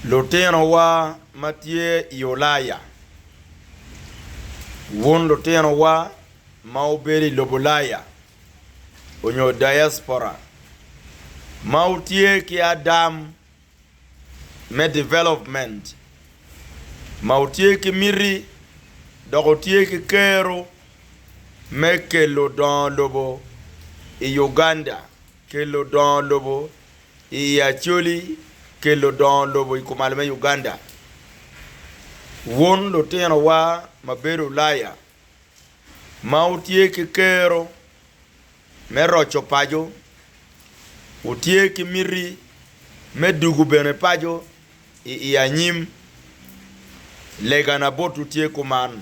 Lutinowa ma tye i Ulaya. Wun lutinowa ma wubedo i lobo Ulaya onyo diaspora ma wutye ki adam me development ma wutye ki miti dok wutye ki kero me kelo dongo lobo i Uganda, Kel ludongo lobo i Acholi Kel ludongo lobo i kumal me Uganda Wun lutinowa ma bedo Ulaya ma wutye ki kero me roco paco, wutye ki miti me dugu bene paco i i anyim, legana botwu tye kuman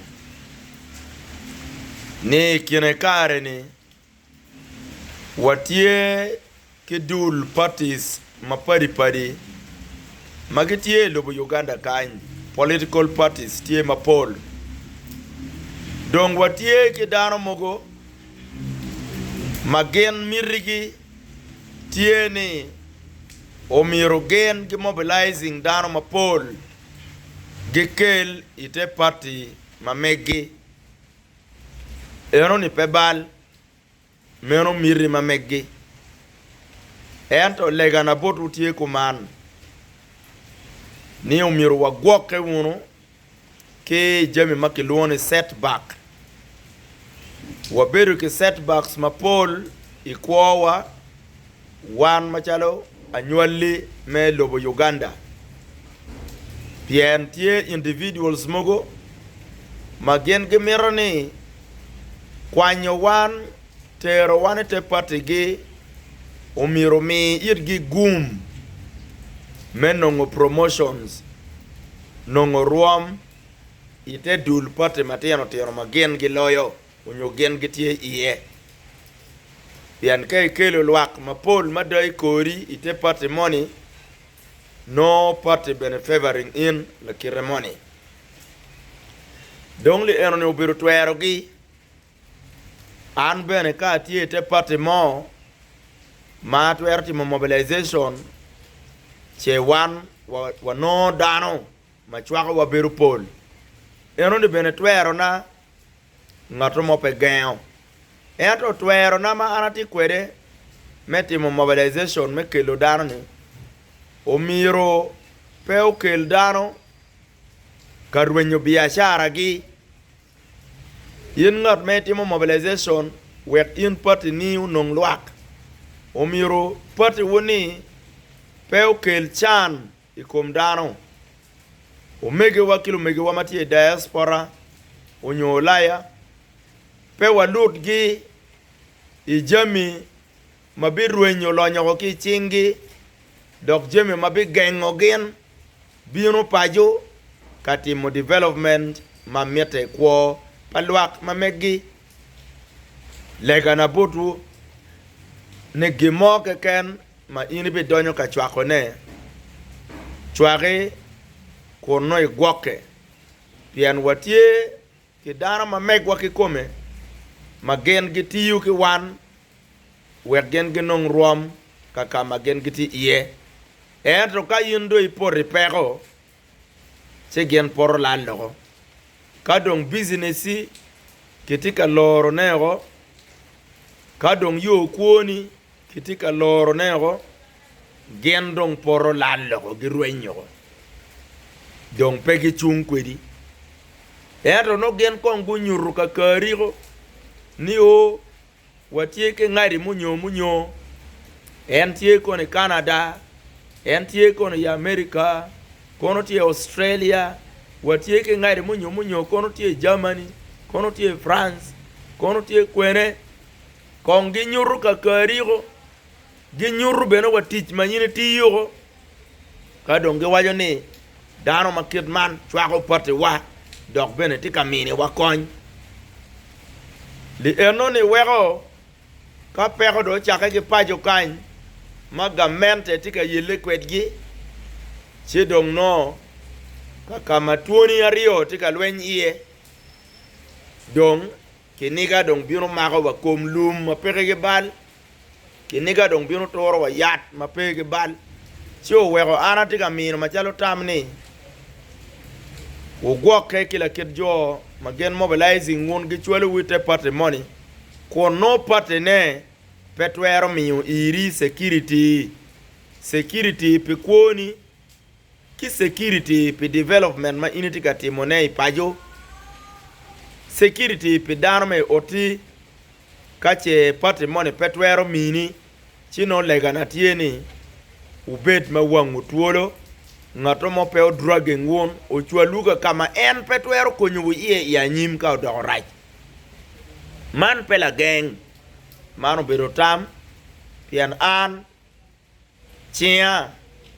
ni i kine kare-ni Watye ki dul parties mapadi padi ma gitye i lobo Uganda kany, political parties tye mapol. Dong watye ki dano mogo ma gin mitigi tye ni omyero gin gi mobilizing dano mapol gikel ite party ma megi. Enoni pe bal, meno miti ma meggi. Ento legana botwu tye kuman, ni omyero wagwokke wunu ki i jami ma kilwongo ni setback. Wabedo ki setbacks mapol i kwowa. Wan macalo anywali me lobo Uganda pien tye individuals mogo ma gin gimito ni kwanyo wan tero wan i te party gi omyero omi itgi gum me nongo promotions nongo rwom i te dul party matino tino ma gin giloyo. onyo gin gitye iye. Pien ka ikelo lwak mapol mada i kori i te party moni, nongo party bene favoring in lakite moni. Dong li enoni obedo twerogi. An bene ka atye i te party mo ma atwero timo mobilization, ce wan wa, wanongo dano ma cwakowa bedo pol. Enoni bene twerona, ngatto mo pe gengo. Ento twerona ma an atye kwede me timo mobilization me kelo dano-ni, omyero pe okel dano ka rwenyo biacara-gi. In ngat ma itimo mobilization wek in pati-ni onong lwak, omyero patiwu-ni pe okel can I kom dano, omegiwa ki lumegiwa ma tye i diaspora onyo Ulaya, pe walutgi i jami ma birwenyo lonyoko ki i cinggi dok jami ma bigengo gin bino paco ka timo development ma mitte i kwo pa lwak ma megi. Legana botwu ni gin mo keken ma in ibidonyo ka cwakone, cwaki kun nongo igwokke, pien watye ki dano ma megwa kikome ma gin gitiyo ki wan wek gin ginong rwom ka ka ma gin gitye iye. Ento ka in dong ipoto i peko, ci gin poto lal loko. Ka dong bicineci kitye ka lorone woko, ka dong yo kwoni kitye ka lorone woko, gin dong poto lal loko, girweny woko, dong pe gicung kwedi. Ento nongo gin kong gunyuto kakariko ni o. Watye ki ngati munyo munyo, en tye kono i Canada, en tye kono i America, kono tye i Australia, watye ki ngati munyo munyo kono tye i Germany, kono tye i France, kono tye kwene. Kong ginyutu ka kariko, ginyutu bene wa tic ma in itiyo. Ka dong giwaco ni, 'Dano ma kit man cwako pattiwa dok bene tye ka miniwa kony, li enoni weko ka peko dong ocakke ki paco kany ma gamente tye ka yelle kwedgi, ci dong nongo ka ka ma twoni aryo tye ka lweny iye, dong kiniga dong bino mako wa kom lum ma pekigi bal. Kiniga dong bino turo wa yat ma pe ki bal, ci oweko an atye ka mino macalo tam ni wugwokke ki lakit jo ma gin mobilizing wun gicwalo wi te party moni kun nongo party ne pe twero miyo iri security, security pi kwoni. ki security pi development ma in itye ka timone i paco, security pi dano ma i oti ka ce party moni pe twero mini, ci nongo legana tye ni wubed ma wangu twolo, ngatto mo pe o dragging wun ocwalwu ka ka ma en pe twero konyowu iye i anyim ka odoko rac. Man pe lageng, man obedo tam pien an Cinga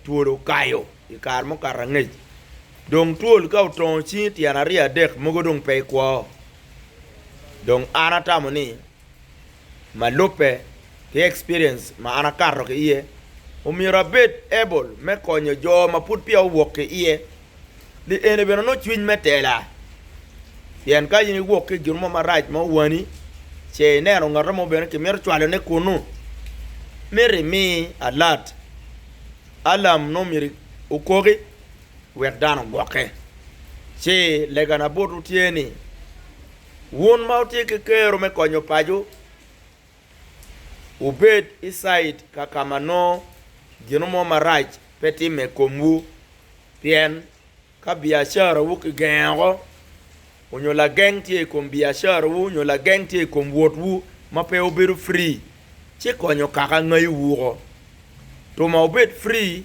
twol okayo i kare mukato angec. Dong twol ka otongo cingi tyen aryo adek mogo dong pe ikwo. Dong an atamo ni ma lubbe ki experience ma an akato ki iye, omyero abed able me konyo jo ma pud peya owok ki iye ni eni bene onongo cwiny me tela. Pien ka in iwok ki i gin mo marac ma owani, ce ineno ngato mo bene kimito cwalone kunnu, myero imi alat alam nongo myero okoki wek dano ogwokke. Ci legana botwu tye ni, wun ma wutye ki kero me konyo pacu, Wubed i cait kaka ma nongo gin mo marac pe timme i komwu. Pien ka biacarawu kigengeo, onyo lageng tye i kom biacarawu onyo lageng tye i kom wotwu ma pe wubedo free, ci konyo kaka ngayi wuko. Tuma wubed free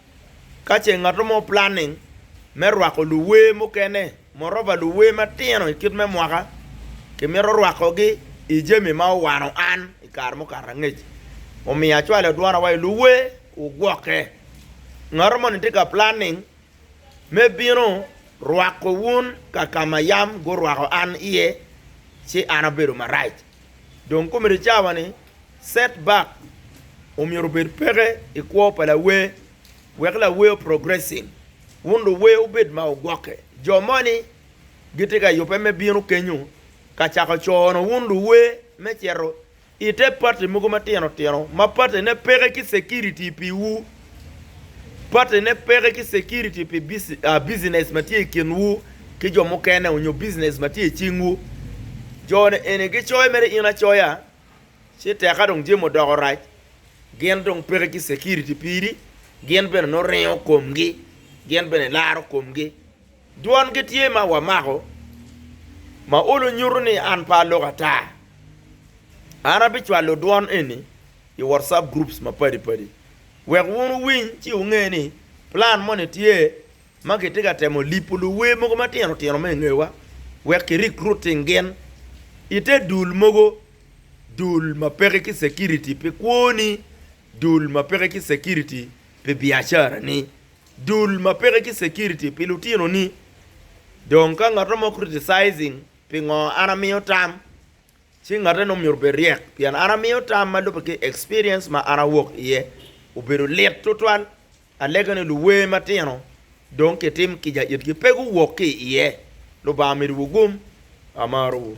Ka ce ngat mo planning me rwako luwer mukene, moreover luwer matino i kit me mwaka, kimito rwakogi i jami ma owano an i kare mukato angec. Omiyo acwalo adwona wa i luwer, wugwokke. Ngat moni tye ka planning me bino rwako wun ka ka ma yam gurwako an iye, ci an abedo marac. Dong komedo cawa ni, Setback omyero obed peke i kwo pa lawer wek lawer progressing wun luwer wubed ma wugwokke. Jo moni gitye ka yubbe me bino kenyu ka cako cono wun luwer me cito i te party mogo matino tino ma party ne peke ki security pi wu, party ne peke ki security pi business ma tye i kin wu ki jo mukene onyo business ma tye i cing wu. Jo ni eni gicoyo mere in acoya. Ci tek ka dong jami odoko rac, gin dong peke ki security piri, gin bene nongo ringo komgi, gin bene ilaro komgi. Dwongi tye ma wamako ma olo nyuto ni an pe aloko ata. An abicwalo dwon eni i WhatsApp groups mapadi padi wek wun wuwiny ci wunge ni plan moni tye. ma kitye ka temo lipo luwe mogo matino tino me i ngewa wek kirik Ruting gin i te dul mogo, dul ma peke ki security pi kwoni, dul ma peke ki security pi biacarani, dul ma peke ki security pi lutinoni. Dong ka ngat mo criticizing pingo an amiyo tam, Ci ngatte no myero obed ryek, pien an amiyo tam ma lubbe ki experience ma an awok iye. Obedo lit tutwal, alega ni luwer matino dong kitim kica itgi pe guwok ki iye. Lubanga omidiwu gum. Amarowu.